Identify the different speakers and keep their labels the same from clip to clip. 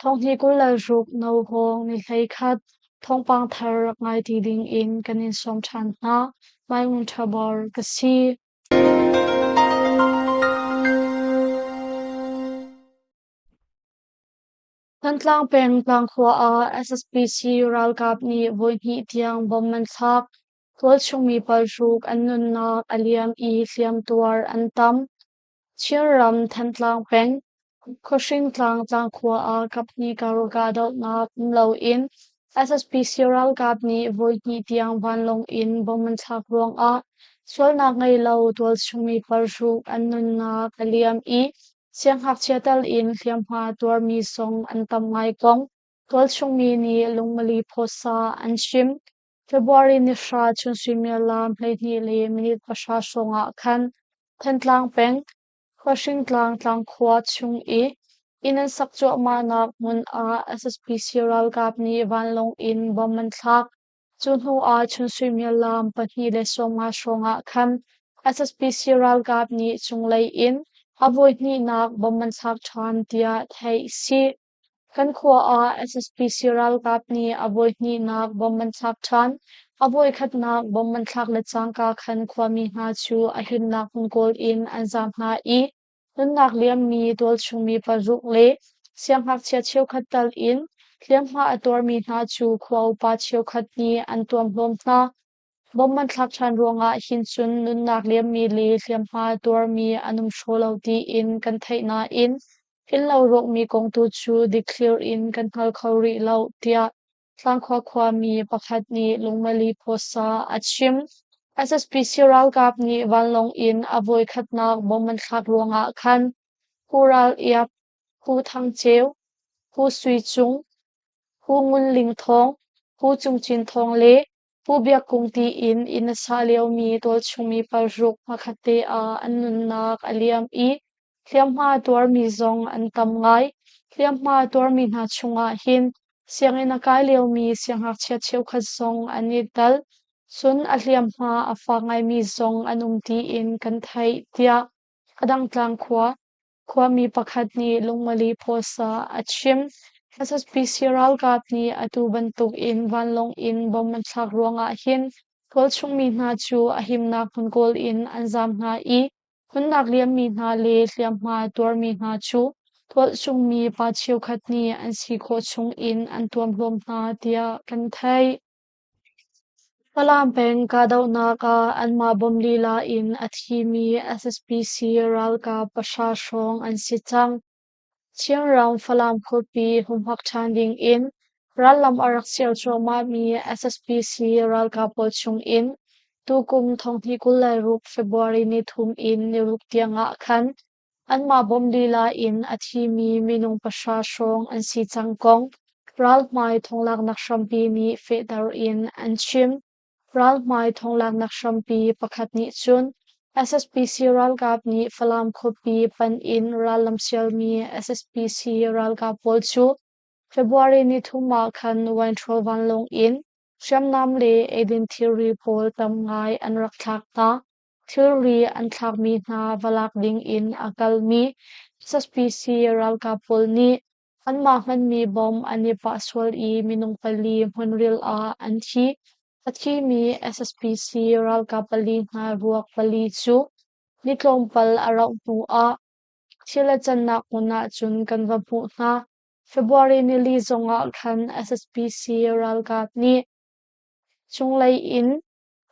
Speaker 1: Thawnghi kul le ruk no hawng nihlei khat thawngpang thar rak ngai ti dingin kan in sawm ṭhan hna. Mai Wung Ṭhabor ka si. Thantlang peng Tlangkhua ah SSPC ralkap nih voihnih tiang bom an thlak. Tualchung mi palhruk an nunnak a liam i hliamtuar an tam. Chinram Thantlang peng Khuahringtlang tlangkhua ah kaphnikar ralkah dohnak um loin SSPC ralkap nih voihnih tiang vanlawng in bomb an thlak ruangah sualnak ngei lo tualchungmi parhruk an nunnak a liam i sianghngakchia tal in hliamhma tuarmi zong an tam ngai kong tualchungmi nih lungmali phawsa an chim. February ni hra chun suimilam hleihnih le minit pahra hrawng ah khan Thantlang peng Khuahringtlang tlangkhua chung i inn an sak cuahmahnak hmun ah SSPC ralkap nih vanlawng in bomb an thlak. Cu hnu ah chun suimilam pahnih le sawmnga hrawng ah khan SSPC ralkap nih cunglei in a voihnihnak bomb an thlak ṭhan, tiah theih a si. Kan khua ah SSP ralkap nih a voi hnihnak bomb an thlak ṭhan. A voi khatnak bomb an thlak le cangka khan khuami hna cu a himnak hmun kawl in an zaam hna i nunnak liammi tualchungmi paruk le siangngakchia cheukhat tal in hliamhma a tuarmi hna cu khua upa cheukhat nih an tuamhlawm hna. Bawmh an thlak ṭhan ruangah hin cun nunnak liammi le hliamhma tuarmi an um hraw lo tiin kan theih nain innlo rawkmi kong tu cu dikthlir in kan hngal kho rih lo, tiah Tlangkhua khuami pakhat nih Lungmali Phosa a chim. SSPC ralkap nih vanlawng in a voikhatnak bawmh an thlak ruangah khan Pu Ral Iap, Pu Thang Ceu, Pu Sui Cung, Pu Ngun Ling Thawng, Pu Cung Cin Thawng le Pu Biak Kung tiin inn a sa liomi tualchungmi paruk pakhat te ah an nunnak a liam i hliamhma tuarmi zong an tam ngai. Hliamhma tuarmi hna chungah hin sianginn a kai liomi siangngakchia cheukhat zong an i tel. Cun a hliamhma a fak ngaimi zong an um tiin kan theih, tiah a dang tlang khua Khuami pakhat nih lungoli pawsa a chim. A saspisi ralkap nih atu bantuk in vanlawng in bom an thlak ruangah hin tualchungmi hna cu a himnak hmun kawl in an zaam hna i phunnak liammi hna le hliamhma tuarmi hna cu tualchungmi pa cheukhat nih an si khawh chung in an tuam hlawm hna tiah kan theih. Falam peng kahdohnak ah anmah bawm lila in a thimi SSPC ralkap pahra hrawng an si cang. Chinram Falam khuapi humhak ṭhan ding in rallam a rak siar cuahmahmi SSPC ralkap pawl chungin tukum thonghni kul le ruk February ni thum in niruk tiangah khan Anmah bawmh lila in a thimi minung pahra hrawng an si cang kong ralhmai thonglaknak hrampi nih fehter in an chim. Ralhmai thonglaknak hrampi pakhat nih cun SSPC ralkap nih Falam khuapi panh in ral lamsialmi SSPC ralkap pawl cu February ni thum ah khan Winthrop vanlawng in hriamnam le eidin thilri pawl tam ngai an rak thlak hna. Thilri an thlakmi hna va lak dingin a kalmi saspecie ralkap pawl nih anmah hmanmi bom an i pah sual i minung pali hmunril ah an thi. A thimi saspecie ralkap pali hna ruak pali cu ni tlawmpal a rauh hnuah thil a cannak hmun ahcun kan va hmuh hna. February nili zongah khan saspecie ralkap nih cunglei in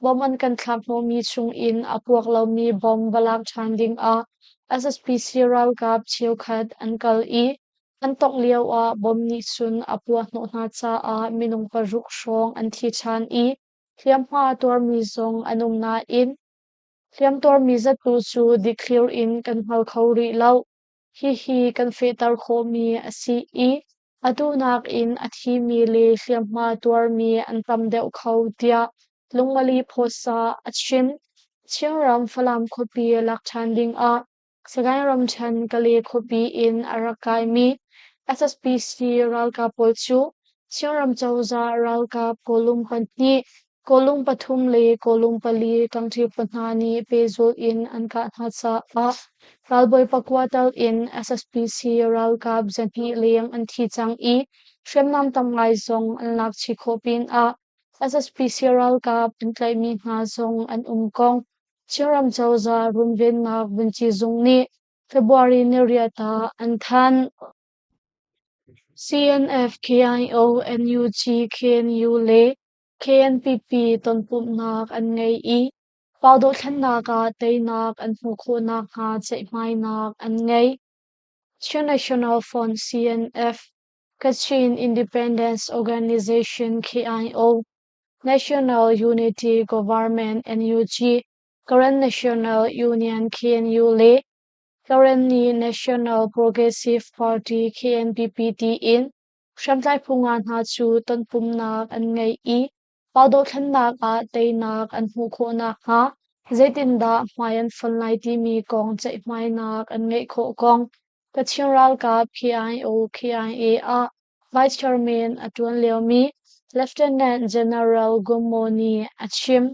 Speaker 1: Bomb an kan thlak hnawhmi chung in a puak lomi bomb va lak ṭhan ding ah SSPC ralkap cheukhat an kal i an tongh lio ah bomb nih cun a puahhnawh hna caah minung paruk hrawng an thi ṭhan i hliamhma tuarmi zong an um nain hliamtuarmi zat tu cu dikthlir in kan hngal kho rih lo. Hihi kan fehter khawhmi a si i a duhnak in a thimi le hliamhma tuarmi an tam deuh kho, tiah Lungmali Phosa a chim. Chinram Falam khuapi lak ṭhan dingah Sagaing ramṭhen Kale khuapi in a rak kaimi SSPC ralkap pawl cu Chinram cozah ralkap kawlum pahnih Kawlung pathum le kawlung pali ṭangṭhirpa hna nih pehzulh in an kah hna caah ralbawi pakua tal in SSPC ralkap zahnih leng an thi cang i hriamnam tam ngai zong an lakchih khawh pinah SSPC ralkap an tlaihmi hna zong an um kong Chinram cozah runvennak vunci zung nih February niriat ah an thanh. CNF-KIO, NUG-KNU le KNPP tonpumhnak an ngei i fau dohthlennak ah teinak an hmuh khawh nakhnga ceihmainak an ngei. Chin National Front CNF Kachin Independence Organization KIO National Unity Government NUG Karen National Union KNU le Karenni National Progressive Party KNPP tiin Hriamtlai phu nga hna cu tonpumnak an ngei i pa dothlennak ah teinak an hmuh khawh nakhnga zeitindah hmai an fon lai timi kong ceihmainak an ngeih khawh kong Kachin ralkap KIO KIA ah Vice Chairman a ṭuan liomi Lieutenant General Gummo nih a chim.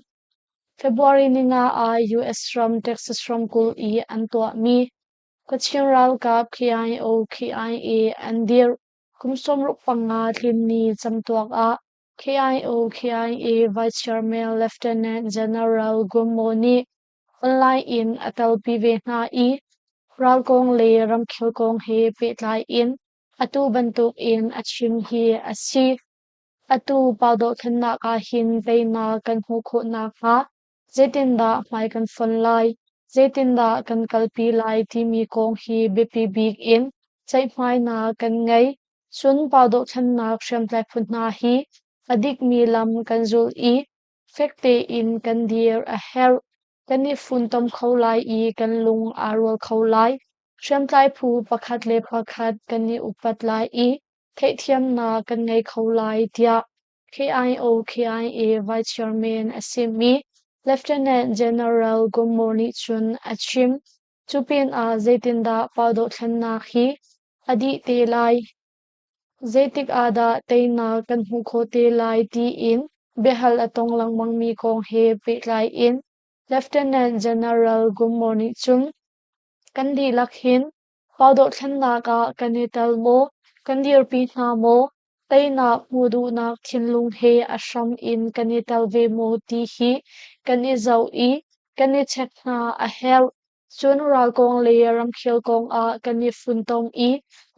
Speaker 1: February ni nga ah US ram Texas ramkulh i an tuahmi Kachin ralkap KIO KIA an dirh. Kum sawmruk panga tlinni camtuak ah KIO KIA Vice Chairman Lieutenant General Gummo nih online in a telpi ve hna i ralkong le ramkhel kong he pehtlai in atu bantuk in a chim hi a si. Atu pandawhthlennak ah hin teinak kan hmuh khawh nakhnga Zeitindah hmai kan fonh lai, zeitindah kan kalpi lai timi kong hi biapi bik in ceihhmainak kan ngei. Cun pa dohthlennak hriamtlai phu hna hi a dikmi lam kan zulh i fek tein kan dir a herh. Kan i funtom kho lai i kan lung aa rual kho lai. Hriamtlai phu pakhat le pakhat kan i upat lai i theihthiamnak kan ngei kho lai tiah KIO-KIA Vice Chairman a simi Lieutenant General Gommo nih cun a chim. Cu pinah zeitindah pa dohthlennak hi a dih te lai? Zeitik ah dah teinak kan hmuh khawh te lai tiin biahal a tong lengmangmi kong he pehtlai in Lieutenant General Gommo nih cun kan dihlak hin Khua dohthlennak ah kan i tel maw? Kan dirpi hna maw? Teinak hmuh duhnak thinlung he a hram in kan i tel ve maw ti hi kan i zoh i kan i check hna a herh. Cun ralkawng le ramkhel kong ah kan i funtom i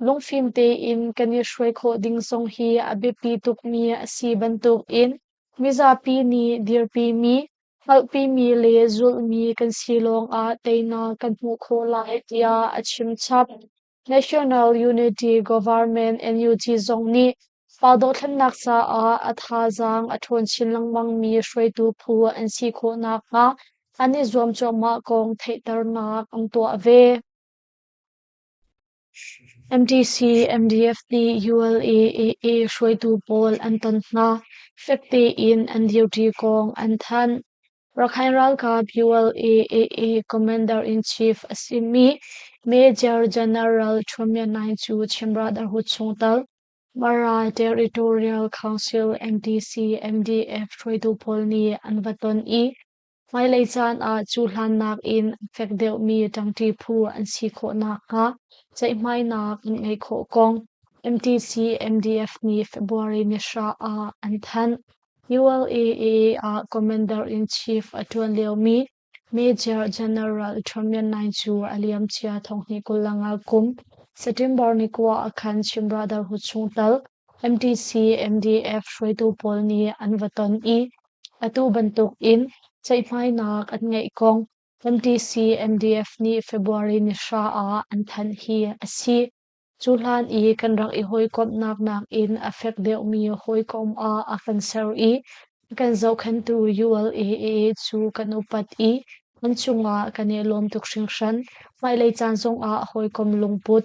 Speaker 1: lungfim tein kan i hruai khawh ding zong hi a biapi tukmi a si bantukin mizapi nih dirpimi Hngalhpimi le zulhmi kan si lawngah teinak kan hmuh khawh lai tiah a chimchap. National Unity Government NUG zong nih fa dothlennak caah a thazaang a ṭhawn chin lengmangmi hruaitu phu an si khawh nakhnga an i zuam cuahmah kong theihternak an tuah ve. MDC, MDFP, ULA, AA hruaitu pawl an ton hna, fek tein an duty kong an thanh. Rakhine ralkap ULA, AA Commander-in-Chief a simi Major General Chuamyannai cu chimrah darhu chung tal Mara Territorial Council MDC, MDF hruaitu pawl nih an va ton i Hmailei caan ah cuhlannak in a fek deuhmi ṭangṭi phu an si khawh nakhnga ceihmainak an ngeih khawh kong MTC MDF nih February ni hra ah an thanh. ULAA ah Commander-in-Chief a ṭuan liomi Major General Trunnion Nai cu a liamcia thonghnih kul lang ah kum September ni kua a khan chim rah dar hu chung tal MTC MDF hruaitu pawl nih an va ton i Atu bantukin ceihmainak an ngeih kong kan TCMDF nih February ni hra ah an thanh hi a si. Cu hlan i kan rak i hawikomhnak nakin a fek deuhmi hawikom ah a kan ser i a kan zohkhenhtu ULAA cu kan upat i an cungah kan i lawm tuk hringhran. Hmailei caan zongah hawikom lungput,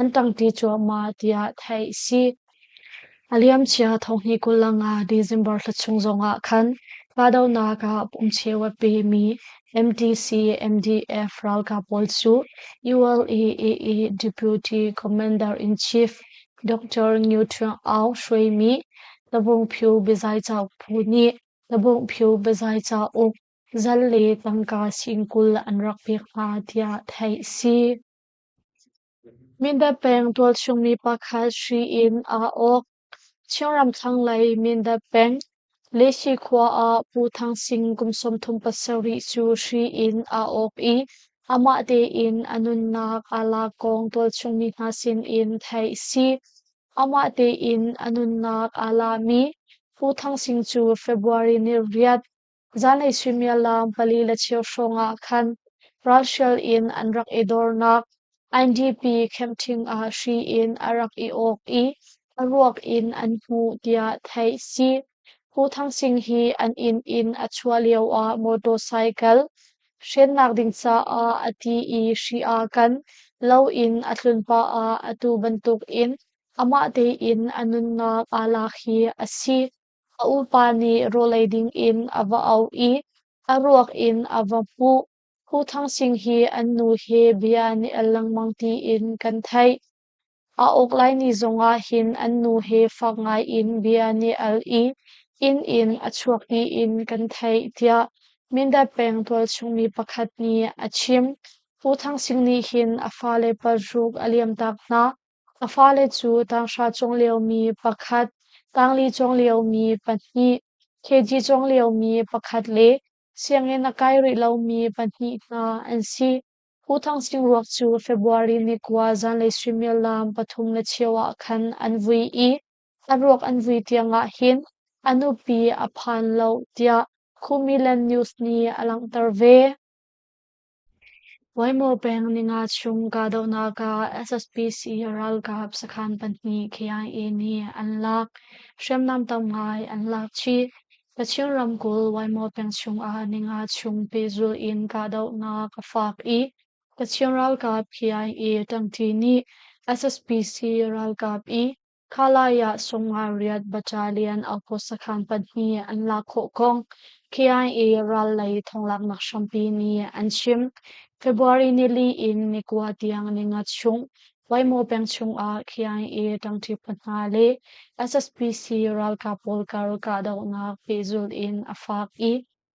Speaker 1: an ṭangṭi cuahmah tiah theih a si. A liamcia thawhni kul le nga December thla chung zongah khan kahdohnak ah pumcheu a pemi MDC MDF ralkap pawl cu ULA-AA Deputy Commander-in-Chief Dr. Ngiuṭhuang Aung hruaimi Tabungphu biazai cauk phu nih Tabungphu biazai cauk zal le tangka sing kul an rak pek hna tiah theih a si. Mindat peng tualchungmi pakhat hri in aa awk. Chin ramthlanglei Mindat peng, Lehshi khua ah Pu Thang Sing kum sawmthum pasarih cu hri in aa awk i amah tein a nunnak aa lak kong tualchungmi hna sinin theih a si. Amah tein a nunnak aa lami Pu Thang Sing cu February ni riat Zanlei suimialam pali le cheu hrawng ah khan ralhrial in an rak i dornak IDP khemthing ah hri in a rak i awk i a ruak in an hmuh tiah theih a si. Pu Thang Sing hi an inn in a chuah lio ah motorcycle hrennak ding caah a ti i hri aa kan lo in a tlun pah ah atu bantuk in amah tein a nunnak aa lak hi a si. A upa nih rawlei ding in a va auh i a ruak in a va hmuh. Phu Thang Sing hi an nu he bia nih a lengmang tiin kan theih. A uk lai ni zongah hin an nu he fak ngaiin bia nih al i inn in a chuak tiin kan theih, tiah Mindat peng tualchungmi pakhat nih a chim. Phu Thang Sing nih hin a fale paruk a liamtak hna. A fale cu tanghra cung liomi pakhat, tangli cung liomi pahnih, kg cung liomi pakhat le sianginn a kai rih lomi pahnih hna an si. Pu Thang Sing ruak cu February ni kua zanlei suimilam pathum le cheu ah khan an vui i an ruak an vui tiangah hin a nupi a phan lo tiah Kumilan News nih a langhter ve. Voimaw peng Ninga chung kahdohnak ah SSPC ralkap sakhan pahnih KIA nih an lak, hriamnam tam ngai an lak chih. Kachin ramkulh Voimaw peng chung ah Ninga chung pehzulh in kahdohnak a fak i Kachin ralkap KIA ṭangṭi nih SSPC ralkap i Kha lai ah sungah riat baṭa lian auko sakhan pahnih an lak khawh kong KI ral lei thonglaknak hrampi nih an chim. February nili in nikua tiang ninga chung Waimo peng chungah KI ṭangṭi pahna le SSPC ralkap pawl kar kahdohnak pehzulh in a fak i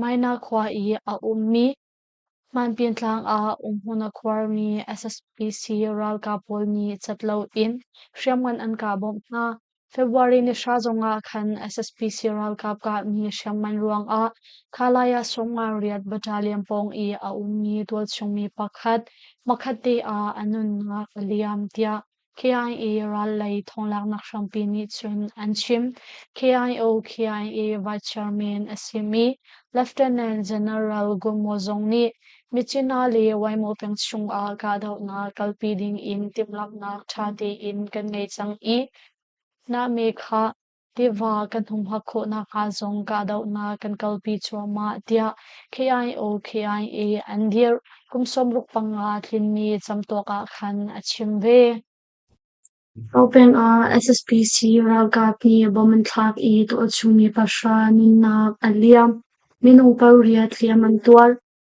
Speaker 1: Maina khua i a ummi Hmanpin tlang ah umhmun a khuarmi SSPC ralkap pawl nih cat loin hriamngan an kah bawmh hna. February ni hra zongah khan SSPC ralkap kahmi hriamngan ruangah Khalaya Songma Riat Battalion pawng i a ummi tualchungmi pakhat, makhatte ah a nunnak a liam tiah KIA ral lei thonglaknak hrampi nih cun an chim. KIO KIA Vice Chairman a simi Lieutenant General Gumo zong nih Michina le Waimo peng chungah kahdohnak kalpi ding in timhlamhnak ṭha tein kan ngei cang i, na mekha Tiva kan hung hngak khawhnak hnga zong kahdohnak kan kalpi cuahmah tiah KIO KIA an dirh. Kum sawmruk panga tlinmi camtuak ah khan a chim ve. Gaupeng ah SSPC ralkap nih bomb an thlak i tuahchungmi pahra nunnak a liam. Minung paruk riat hliam an tuar.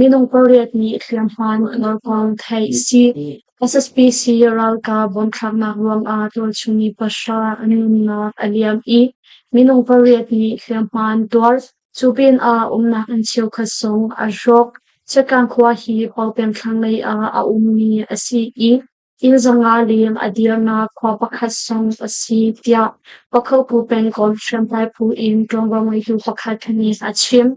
Speaker 1: Minung pariat nih hliamhma nuamhnak kong theih a si. SSP si ralkap bunthlaknak ruangah tualchung i pahra an nunnak a liam i minung pariat nih hliamhma an tuar. Cu pinah umnak inn cheukhat zong a hrawk. Chiatgang khua hi Pawpeng thlanglei ah a ummi a si i inn zanga leng a dirnak khua pakhat zong a si tiah Pakhopu pengkomh hriamtlai phu in ṭuanvo ngeitu pakhat nih a chim.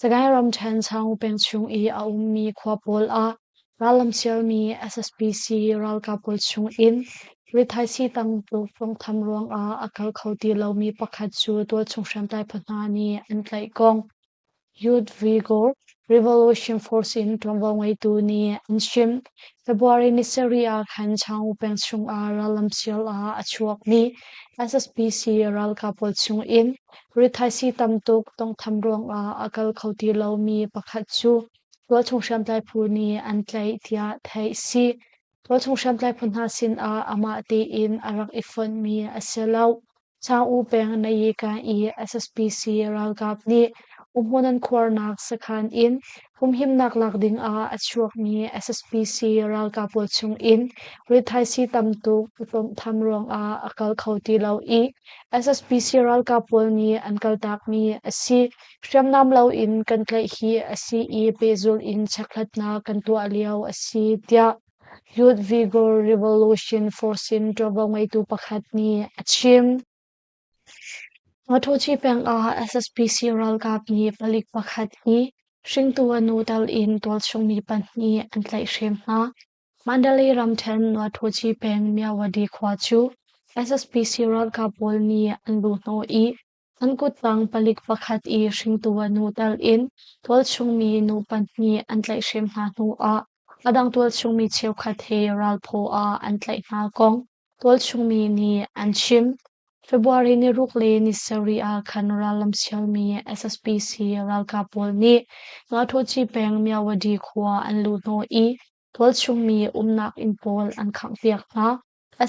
Speaker 1: Sagaing ramṭhen Chaung peng chung i a ummi khua pawl ah rallamsialmi SSPC ralkap pawl chung in rithaisii tangtuk tawnghtham ruangah a kal kho ti lomi pakhat cu tualchung hriamtlai phu hna nih an tlaih kong Youth Vigor Revolution Force in ṭuanvo ngeitu nih an chim. February ni sarih ah khan Chaung peng chung ah rallamsial ah a chuakmi SSPC ralkap pawl chung in Rithaisi tam tuk tawnghtham ruangah a kal kho ti lomi pakhat cu tualchung hriamtlai phu nih an tlaih tiah theih a si. Tualchung hriamtlai phu hna sinah amah tein a rak i fonhmi a si lo. Sang U peng Nayikan i SSPC ralkap nih Umhmunan khuarnak sakhan in humhimnak lak dingah a chuakmi SSPC ralkap pawl chungin rithaisii tam tuk tlawmtham ruangah a kal kho ti lo i SSPC ralkap pawl nih an kaltakmi a si. Hriamnam loin kan tlaih hi a si i pehzul in chekhlatnak kan tuah lio a si tiah Yudhvigar Revolution Force in ṭuanvo ngeitu pakhat nih a chim. Matuthi peng ah SSPC ralkap nih palik pakhat hi hringtu a nu tal in tualchungmi pahnih an tlaihhrem hna. Mandalay ramthen Matuthi peng Myawadi khua cu SSPC ralkap pawl nih an luhhnawh i an kuttang palik pakhat i hringtu a nu tal in tualchungmi nu pahnih an tlaihhrem hna hnu ah a dang tualchungmi cheukhat he ralphaw ah an tlaih hna kong Tualchungmi nih an chim. February ni ruk le ni sarih ah khan rallamsialmi SSPC ralkap pawl nih Ngakṭhuaci peng Myawadi khua an luh hnawh i tualchungmi umnak inn pawl an khanghpiak hna.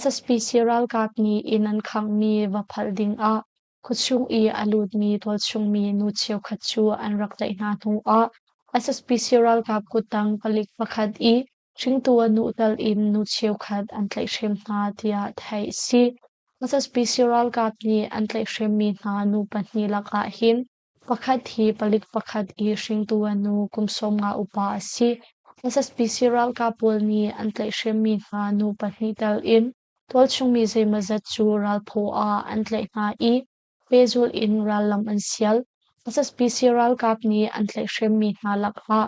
Speaker 1: SSPC ralkap nih inn an khanghmi va phalh ding ah khuachung i a lutmi tualchungmi nu cheukhat cu an rak tlaih hna hnuah SSPC ralkap kuttang palik pakhat i Hringtu a nuhdal in nu cheukhat an tlaihhrem hna tiah theih a si. Mozambique ralkap nih an tlaihhremmi hna nu pahnih lakah hin pakhat hi palik pakhat i hringtu a nu kum sawmnga upa a si. Mozambique ralkap pawl nih an tlaihhremmi hna nu pahnih tal in tualchungmi zeimawzat cu ralphaw ah an tlaih hna i pehzulh in rallam an sial. Mozambique ralkap nih an tlaihhremmi hna lakah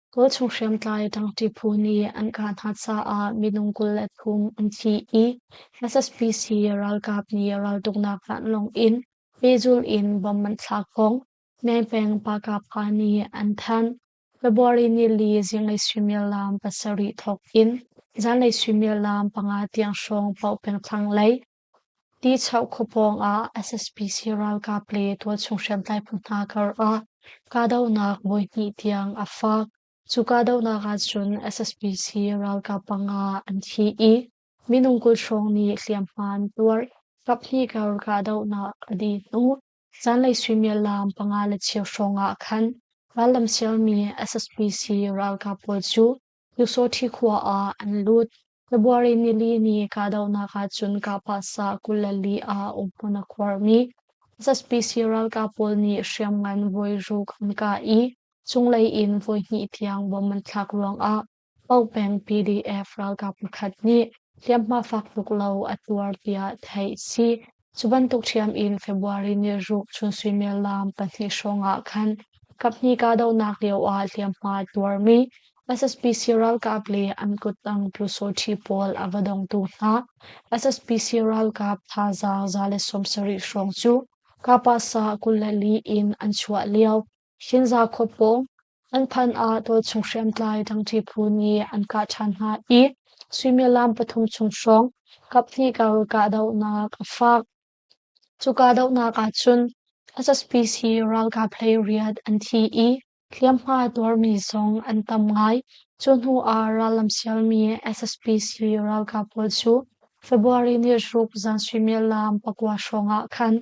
Speaker 1: Kawlchung hriamtlai dangṭi phu nih an kah hna caah minung kul le thum an thi i SSPC ralkap nih raltuknak vanlawng in pehzulh in bom an thlak hong. Mengpeng Pakapha nih an thanh. February nili zinglei suimilam pasarih thawk in zanlei suimilam panga tiang hrawng paoh pengthlang lei Tichoh khua pawng ah SSPC ralkap le tualchung hriamtlai phu hna kar ah kahdohnak voi hnih tiang a fak. Cu kahdohnak ahcun SSPC ralkap panga an thi i minung kul hrawng nih hliamhma an tuar. Kaphnih kar kahdohnak a dih hnu zanlei suimiallam panga le cheu hrawng ah khan rallam sialmi SSPC ralkap pawl cu Lusawṭhi khua ah an lut. February nili ni kahdohnak ahcun Kapasa kul le li ah umhmun a khuarmi zapi ralkap pawl nih hriamngan voiruk an kah i cunglei in voihnih tiang bom an thlak ruangah Pau peng PDF ralkap pakhat nih hliamhma fak tuk lo a tuar tiah theih a si. Cu bantuk ṭhiam in February niruk chun suimilam pahnih hrawngah khan kaphnih kahdohnak lioah hliamhma a tuarmi SSPC ralkap le an kuttang pyusawṭhi pawl a va dongtu hna SSPC ralkap thazaang za le sawmsarih hrawng cu Kapasa kul le li in an chuah lio Shinza khua paw, an phan ah dawtchung hriamtlai dangṭi phu nih an kah ṭhan hna i suimilam pathum chung hrawng kaphnih ka kahdohnak a faak. Cu kahdohnak ahcun SSPC ralkap hlei riat an thi i hliamhma tuarmi zong an tam ngai. Cu hnu ah rallam sialmi SSPC ralkap pawl cu February ni zaruk zan suimilam pakua hrawng ah khan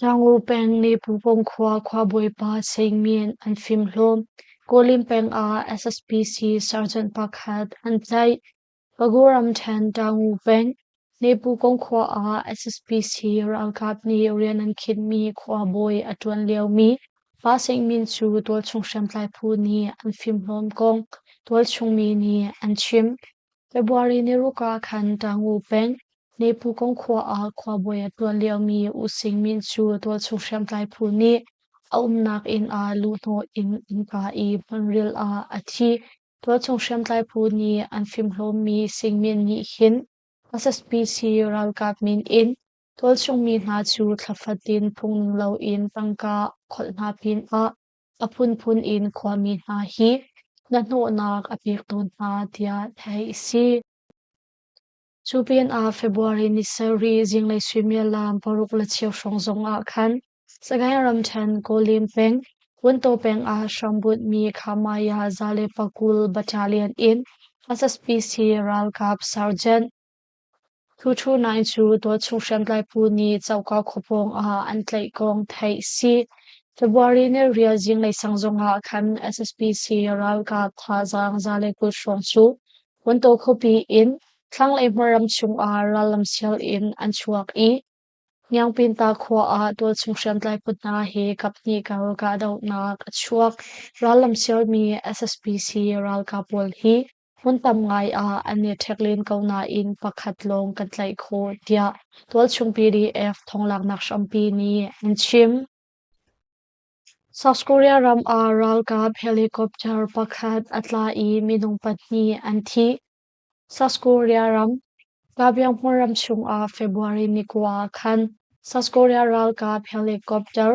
Speaker 1: Ṭangu peng nih Pupong khua khuabawipa Sein Myint an fimhlawm. Kawlin peng ah SSPC sergeant pakhat an tlaih. Pagu ramṭhen Ṭangu peng nih Pupong khua ah SSPC ralkap nih rian an khinhmi khuabawi a ṭuan liomi pa Sein Myint cu tualchung hriamtlai phu nih an fimhlawm kong tualchung mi nih an chim. February niruak ah khan ṭangu peng, Nephu kong khua ah khuabawi a tuan liomi using min cu tualchung hriamtlai phu nih a umnak inn ah luhhnawh in innka i hmunril ah a thi. Tualchung hriamtlai phu nih an fimhlawmmi singmin nih hin SSPC ralkap min in tualchung mi hna cu thlafat in phung ning loin tangka kholh hna pinah A phunphun in khuami hna hi na hnawhnak a pektu hna tiah theih a si. Cu pinah February ni sarih zinglei suimilam paruk le cheu hrawng zongah khan Sagaing ramṭhen Kolim peng, Wuntaw peng ah hrambunh mi Khamaya zale pakul battalion in SSPC ralkap sergeant Tuṭhunai cu tualchung hriamtlai phu nih cauk kho pawngah an tlaih kong theih a si. February nelrial zinglei sang zongah khan SSPC ralkap thazaang za le kut hrawng cu wontaw khuapi in thlanglei hmar ram chungah rallam sial in an chuak i Hniangpinta khua ah tualchung hriamtlai phu hna he kaphnih kal kahdohnak a chuak. Rallam sialmi SSPC ralkap pawl hi Hmun tam ngai ah an i ṭhek len ko nain pakhat lawng kan tlaih khawh, tiah tualchungpdf thawnglaaknak hrampi nih an chim. South Korea ram ah ralkap helicopter pakhat a tla i minung pahnih an thi. South Korea ram Kabyonghmun ram chung ah February ni kua ah khan South Korea ralkap helicopter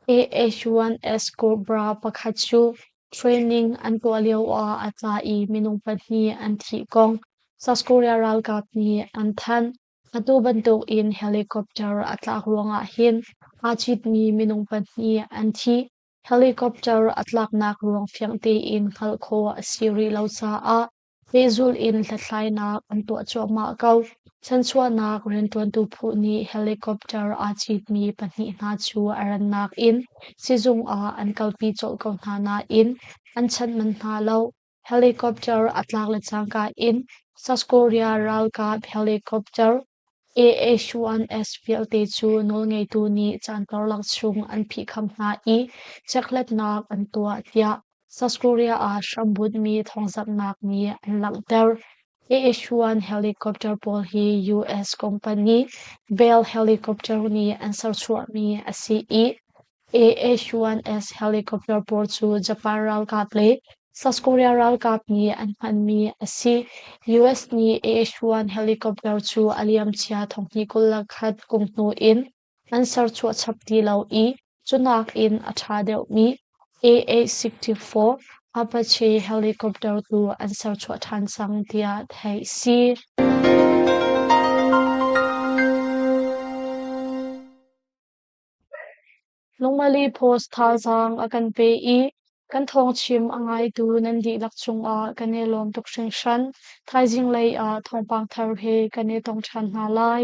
Speaker 1: AH1S Cobra pakhat cu training an tuah lioah a ca i minung pahnih an thih kong South Korea ralkap nih an thanh. Atu bantukin helicopter a tlak ruangah hin aa citmi minung pahnih an thi. Helicopter a tlaknak ruang fiang tein hngalh khawh a si rih lo caah pehzulh in hlathlainak an tuah cuahmah ko. Chanchuahnak rianṭuantu phu nih helicopter aa citmi pahnih hna cu a rannak in sizung ah an kalpi colh ko hna nain an chanh manh hna lo. Helicopter a tlak le cangka in South Korea ralkap helicopter AH1S vialte cu nawlngeitu nih caan karlak chung an phihkham hna i chekhlatnak an tuah tiah South Korea ah hrambunhmi thawngzamhnak nih an langhter. AH1 helicopter pawl hi US company Bell Helicopter nih an serchuahmi a si i AH1S helicopter pawl cu Japan ralkap le South Korea ralkap nih an hmanmi a si. US nih AH1 helicopter cu a liamcia thonghnih kul le khat kum hnu in an serchuah chap ti lo i cunak in a ṭha deuhmi AH64 Apache helicopter tu an serchuah ṭhan cang tiah theih a si. Lungmali post thazaang a kan pe i kan thawngchim a ngaitu nan dihlak cungah kan i lawm tuk hringhran. Thaizing lei ah thawngpang thar he kan i tong ṭhan hna lai.